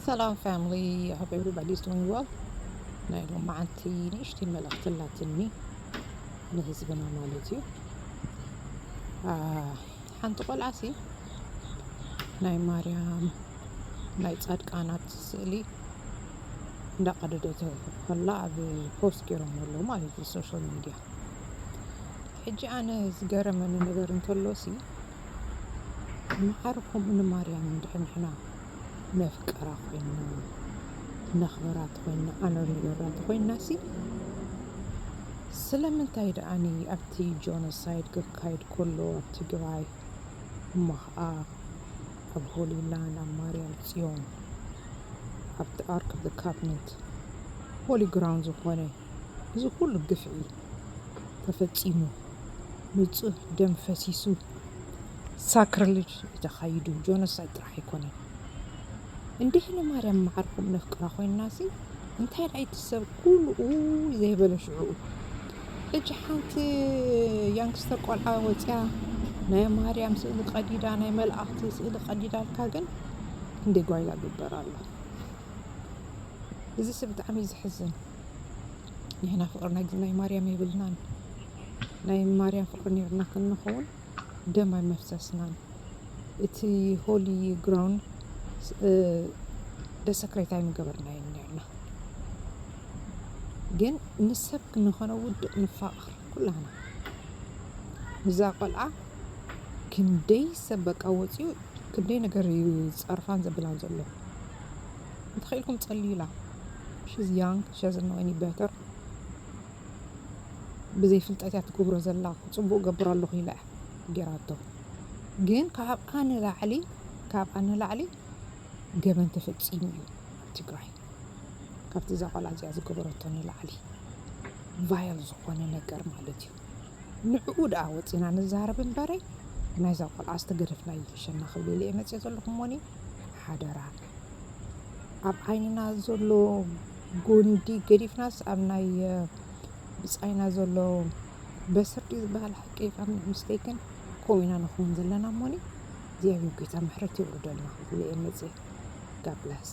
ሰላም ፋሚሊ ሆፕ ኤቭሪባዲ ኢዝ ዱዊንግ ዌል ናይ ሎም መዓልቲ ንእሽቲ መልእኽቲ ኣላትኒ ንህዝብና ማለት እዩ ሓንቲ ቆልዓ ሲ ናይ ማርያም ናይ ጻድቃናት ስእሊ እንዳቀደደት ከላ ኣብ ፖስት ገይሮም ኣለዉ ማለት እዩ ሶሻል ሚድያ ሕጂ ኣነ ዝገረመኒ ነገር እንተሎ ሲ መሓሪ ከምኡ ንማርያም እንድሕር ንሕና ነፍቅራ ኮይንና ነኽብራ ተኾይንና ኣነ ንገብራ ተኾይንናሲ ስለምንታይ ደኣኒ ኣብቲ ጆኖሳይድ ክካየድ ከሎ ኣብ ትግራይ እሞ ኸኣ ኣብ ሆሊላንድ ኣብ ማርያም ጽዮን ኣብቲ ኣርክ ኦፍ ዘ ካፕኒት ሆሊ ግራውንድ ዝኾነ እዚ ኩሉ ግፍዒ ተፈጺሙ ንጹህ ደም ፈሲሱ ሳክርልጅ እዩ ተኻይዱ ጆኖሳይድ ጥራሕ ኣይኮነን እንዲህ ንማርያም መዓርኩም ነፍቅራ ኮይንናሲ እንታይ ደኣ እቲ ሰብ ኩሉ ኡይ ዘይበለ ሽዑኡ እጅ ሓንቲ ያንግስተር ቆልዓ ወጽያ ናይ ማርያም ስእሊ ቀዲዳ ናይ መልኣኽቲ ስእሊ ቀዲዳልካ ግን ክንደይ ጓይላ ግበር ኣሎ። እዚሲ ብጣዕሚ እዩ ዘሕዝን። ንሕና ፍቅሪ ናይ ናይ ማርያም የብልናን ናይ ማርያም ፍቅሪ ነርና ክንኸውን ደም ኣይመፍሰስናን። እቲ ሆሊ ግራውንድ ደሰክሬት ኣይምገበርናዮ ነርና። ግን ንሰብ ክንኾነ ውድቕ ንፋቕር ኩላና እዛ ቆልዓ ክንደይ ሰብ በቃ ወፂኡ ክንደይ ነገር እዩ ዝፀርፋን ዘብላን ዘሎ እንተኺኢልኩም ጸልዩላ ሽዝ ያንግ ሸዝ ኖው ኤኒ በተር ብዘይ ፍልጠት እያ ትገብሮ ዘላ ጽቡቅ ገብሮ ኣለኹ ኢላ እያ ጌራቶ ግን ካብኣ ንላዕሊ ካብኣ ንላዕሊ ገበን ተፈጺሙ እዩ ትግራይ ካብቲ እዛ ቆልዓ እዚኣ ዝገበረቶ ንላዕሊ ቫያል ዝኾነ ነገር ማለት እዩ ንዕኡ ድኣ ወጺና ንዛረብ እምበረይ ናይዛ ቆልዓ ዝተገደፍና ኣይፈሸና ክብል ኢለየ መጺኤ ዘለኹ እሞኒ ሓደራ ኣብ ዓይንና ዘሎ ጎንዲ ገዲፍናስ ኣብ ናይ ብጻይና ዘሎ በስር ድዩ ዝበሃል ሓቂ ከም ምስተይክን ከምኡ ኢና ንኸውን ዘለና እሞኒ እግዚኣብሔር ጎይታ ምሕረት የውርደልና ክብል ኢየ መጺኤ ጋድ ብለስ